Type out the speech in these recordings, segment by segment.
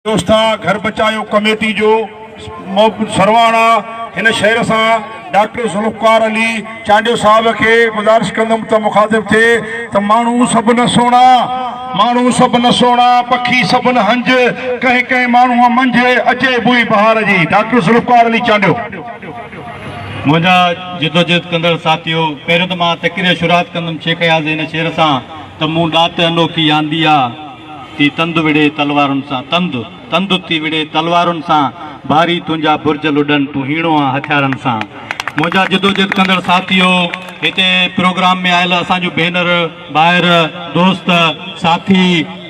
دوستا گهر بچايو ڪميٽي جو محب سرواڻا هن شعر سان ڊاڪٽر ذوالفقار علي چانڊيو صاحب کي گذارش ڪندم ته مخاطب ٿئي ته ماڻهو سڀ نه سهڻا ماڻهو سڀ نه سهڻا پکي سڀ نه هنج ڪنهن ڪنهن ماڻهو منجهه اچي بوئي بهار جي ڊاڪٽر ذوالفقار علي چانڊيو. منهنجا جدوجهد ڪندڙ ساٿيو پهريون ته مان تقرير شروعات ڪندم شيخ اياز جي هن شعر سان ته مون ڏات انوکي آندي آ. تي تند وڙهي تلوارن سان تند، تند تي وڙهي تلوارن سان ڀاري تنهنجا برج لڏن تون هيڻو آن هٿيارن سان منهنجا جدوجهد ڪندڙ ساٿيو هتي پروگرام ۾ آيل اسان جون ڀينر، ڀائر، دوست، ساٿي،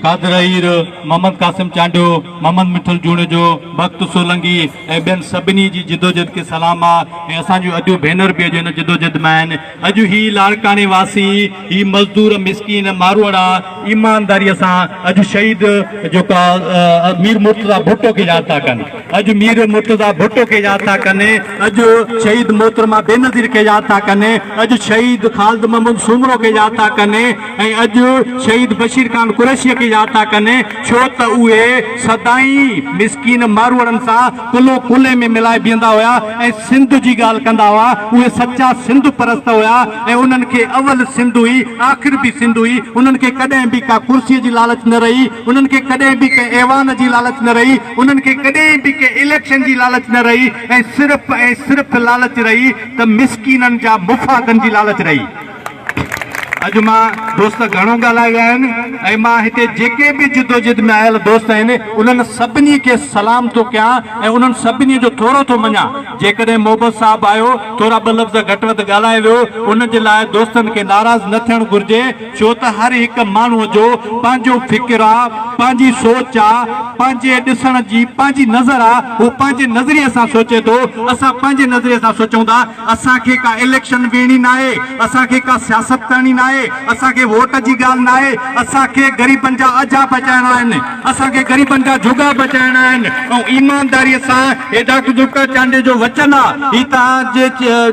قادر اهير، محمد قاسم چانڊيو، محمد مٺل جوڻيجو، بخت سولنگي ۽ ٻين سڀني جي جدوجهد کي سلام آ ۽ اسان جون اديون ڀينر به اڄ ان جدوجهد ۾ آهن. اڄ هي لاڙڪاڻي واسي، هي مزدور مسڪين ماروئڙا ايمانداريء سان اڄ شهيد جيڪو آ مير مرتضيٰ ڀٽو کي ياد ٿا ڪن، اڄ مير مرتضيٰ ڀٽو کي ياد ٿا ڪن، اڄ شهيد محترمه بينظير کي ياد ٿا ڪن، اڄ شهيد خالد محمود سومرو کي ياد ٿا ڪن ۽ اڄ شهيد بشير خان قريشيء کي ياد ٿا ڪن ڇو ته اهي سدائين مسڪين ماروئڙن سان ڪلهو ڪلهي ۾ ملائي بيهندا هيا ۽ سنڌ جي ڳالهه ڪندا هئا اهي سچا سنڌ پرست هيا ۽ انهن کي اول سنڌ هئي آخر به سنڌ هئي انهن کي ڪڏهن به ڪا ڪرسي جي لالچ نه رهي انهن کي ڪڏهن به ڪنهن ايوان جي لالچ نه رهي انهن کي ڪڏهن به ڪنهن اليڪشن جي لالچ نه رهي ۽ صرف ۽ صرف لالچ رهي ته مسڪينن جا مفادن جي لالچ رهي. اڄ مان دوست گهڻو ڳالهائي ويا آهن ۽ مان هتي جيڪي به جدوجهد ۾ آيل دوست آهن انهن سڀني کي سلام ٿو ڪيان ۽ انهن سڀني جو ٿورو ٿو مڃان جيڪڏهن محبت صاحب آيو ٿورا ٻه لفظ گهٽ وڌ ڳالهائي ويو ان جي لاء دوستن کي ناراض نه ٿيڻ گهرجي ڇو ته هر هڪ ماڻهو جو پنهنجو فڪر آ پنهنجي سوچ آ پنهنجي ڏسڻ جي پنهنجي نظر آ هو پنهنجي نظريي سان سوچي ٿو اسان پنهنجي نظريي سان سوچون ٿا اسان کي ڪا اليڪشن ويڙهڻي ناهي، اسان کي ڪا سياست ڪرڻي ناهي، اسان کي ووٽ جي ڳالهه ناهي، اسان کي غريبن جا اجها بچائڻا آهن، اسان کي غريبن جا جهڳا بچائڻا آهن ۽ ايمانداري سان هي ڊاڪٽر ذوالفقار چانڊيو جو وچن آ، هي توهان جي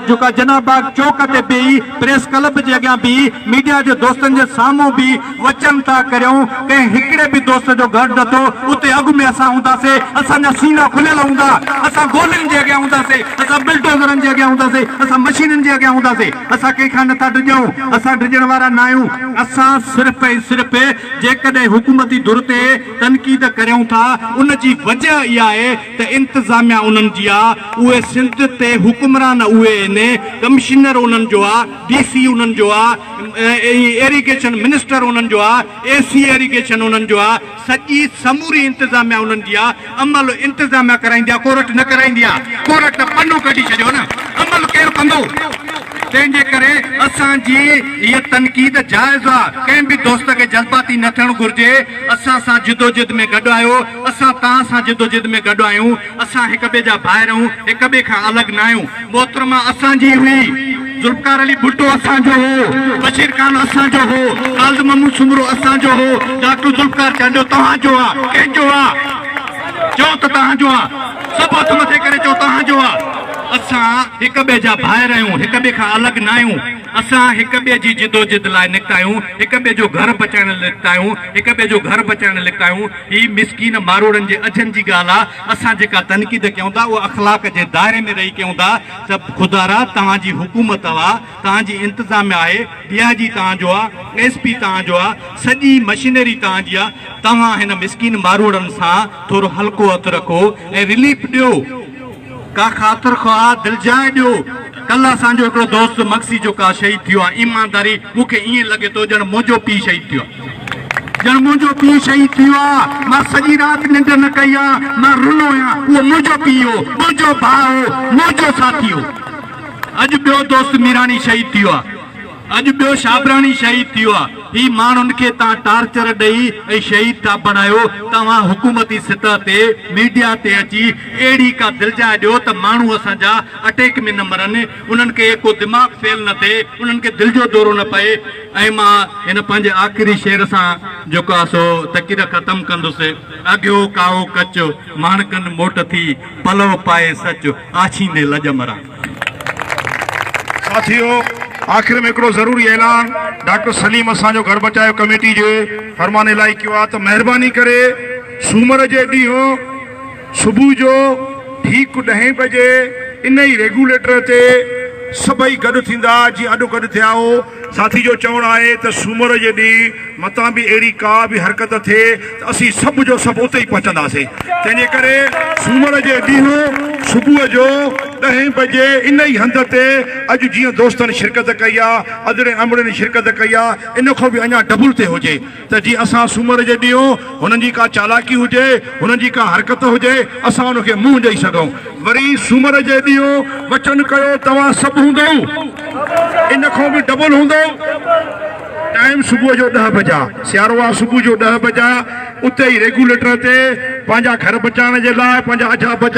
جيڪا جناح باغ چوڪ تي بيهي پريس ڪلب جي اڳيان بيهي ميڊيا جي دوستن جي سامهون بيهي. وچن ٿا ڪريون، ڪنهن هڪڙي به دوست جو گهر نه ٿو، اتي اڳ ۾ اسان هونداسي، اسان جا سينا کليل هوندا، اسان گولين جي اڳيان هونداسي، اسان بلڊوزرن جي اڳيان هونداسي، اسان مشينن جي اڳيان هونداسي، اسان ڪنهن کان نه ٿا ڊڄون، اسان ڊڄڻ وارا ناهيون. اسان صرف ۽ صرف جيڪڏهن حڪومتي ڌر تي تنقيد ڪريون ٿا، ان جي وجه اها آهي ته انتظاميا انهن جي آ، اهي سنڌ تي حڪمران اهي آهن، ڪمشنر انهن جو آ، ڊي سي انهن جو آ، ايريگيشن منسٽر انهن جو آ، اي سي ايريگيشن انهن جو آ، سڄي سموري انتظاميا انهن جي آ، عمل انتظاميا ڪرائيندي آ ڪورٽ نه ڪرائيندي آ، ڪورٽ ته پنو ڪڍي ڇڏيو نه عمل ڪير ڪندو، تنهن جي ڪري اسان جي هيء تنقيد جائز آ، ڪنهن به دوست کي جذباتي نه ٿيڻ گهرجي، اسان سان جدوجھد ۾ گڏ آهيو، اسان توهان سان جدوجھد ۾ گڏ آهيون. اسان هڪ ٻئي جا ڀائر آهيون، هڪ ٻئي کان الڳ نه آهيون، محترمه اسان جي هئي، ذوالفقار علي ڀٽو اسان جو هو، بشير خان اسان جو هو، خالد محمود سومرو اسان جو هو، ڊاڪٽر ذوالفقار چانڊيو توهان جو آ، ڪنهن جو آ؟ چئو ته توهان جو آ، سڀ هٿ مٿي ڪري چئو توهان جو آ. اسان هڪ ٻئي جا ڀائر آهيون، هڪ ٻئي کان الڳ نه آهيون، اسان هڪ ٻئي جي جدوجھد لاء نڪتا آهيون، هڪ ٻئي جو گھر بچائڻ لاء نڪتا آهيون، هڪ ٻئي جو گھر بچائڻ لاء نڪتا آهيون، هي مسڪين ماروئڙن جي اجهن جي ڳالهه آ، اسان جيڪا تنقيد ڪيون ٿا اها اخلاق جي دائري ۾ رهي ڪيون ٿا ته خدا را توهان جي حڪومت اها آ، توهان جي انتظاميه آهي، ڊي آء جي توهان جو آ، ايس پي توهان جو آ، سڄي مشينري توهان جي آ، توهان هن مسڪين ماروئڙن سان ٿورو هلڪو هٿ رکو ۽ رليف ڏيو. ڪا خاطر خواهه دلجاء ڏيو. ڪلهه اسان جو هڪڙو دوست مگسي جوکا شهيد ٿيو آهي. ايمانداري مون کي ائين لڳي ٿو ڄڻ منهنجو پيء شهيد ٿيو آهي. ڄڻ منهنجو پيء شهيد ٿيو آهي. مان سڄي رات ننڊ نه ڪئي آهي. مان رنو آهيان. اهو منهنجو پيء هو، منهنجو ڀاء هو، منهنجو ساٿي هو. اڄ ٻيو دوست ميراڻي شهيد ٿيو آهي. اڄ ٻيو شابراڻي شهيد ٿيو آ هي ماڻهن کي تان ٽارچر ڏئي ۽ شهيد ٿا بڻايو توهان حڪومتي سطح تي ميڊيا تي اچي اهڙي ڪا دلجاء ڏيو ته ماڻهو اسان جا اٽيڪ ۾ نه مرن انهن کي ڪو دماغ فيل نه ٿئي انهن کي دل جو دورو نه پئي ۽ مان هن پنهنجي آخري شعر سان جيڪو آ سو تقرير ختم ڪندس اگهيو ڪائو ڪچ ماڻڪن موٽ ٿي پلو پائي سچ آڇيندي لڄ مران. ساٿيو آخر ۾ هڪڙو ضروري اعلان ڊاڪٽر سليم اسان جو گهر بچايو ڪميٽي جي فرمان الاهي ڪيو آهي ته مهرباني ڪري سومر جي ڏينهن صبح جو ٺيڪ ڏهين بجي ان ئي ريگوليٽر تي سڀئي گڏ ٿيندا جيئن اڏ گڏ ٿيا هو. ساٿي جو چوڻ آهي ته سومر جي ڏينهن متان به اهڙي ڪا به حرڪت ٿئي ته اسين سڀ جو سڀ اتي ئي پهچنداسين، تنهن جي ڪري سومر جي ڏينهن صبح جو ڏهين بجي ان ئي هنڌ تي اڄ جيئن دوستن شرڪت ڪئي آهي، ادڙين امڙين شرڪت ڪئي آهي، ان کان به اڃا ڊبل تي هجي. ته جي اسان سومر جي ڏينهن هنن جي ڪا چالاڪي هجي، هنن جي ڪا حرڪت هجي، اسان ان کي منهن ڏئي سگهون. وري سومر جي ڏينهن وچن ڪيو توهان سڀ هوندؤ، ان کان به ڊبل هوندؤ. ٽائيم صبح جو ڏهه بجا، سيارو آ، صبح جو ڏهه بجا اتي ئي ريگوليٽر تي پنهنجا گهر بچائڻ جي لاء، پنهنجا اجها بچائڻ.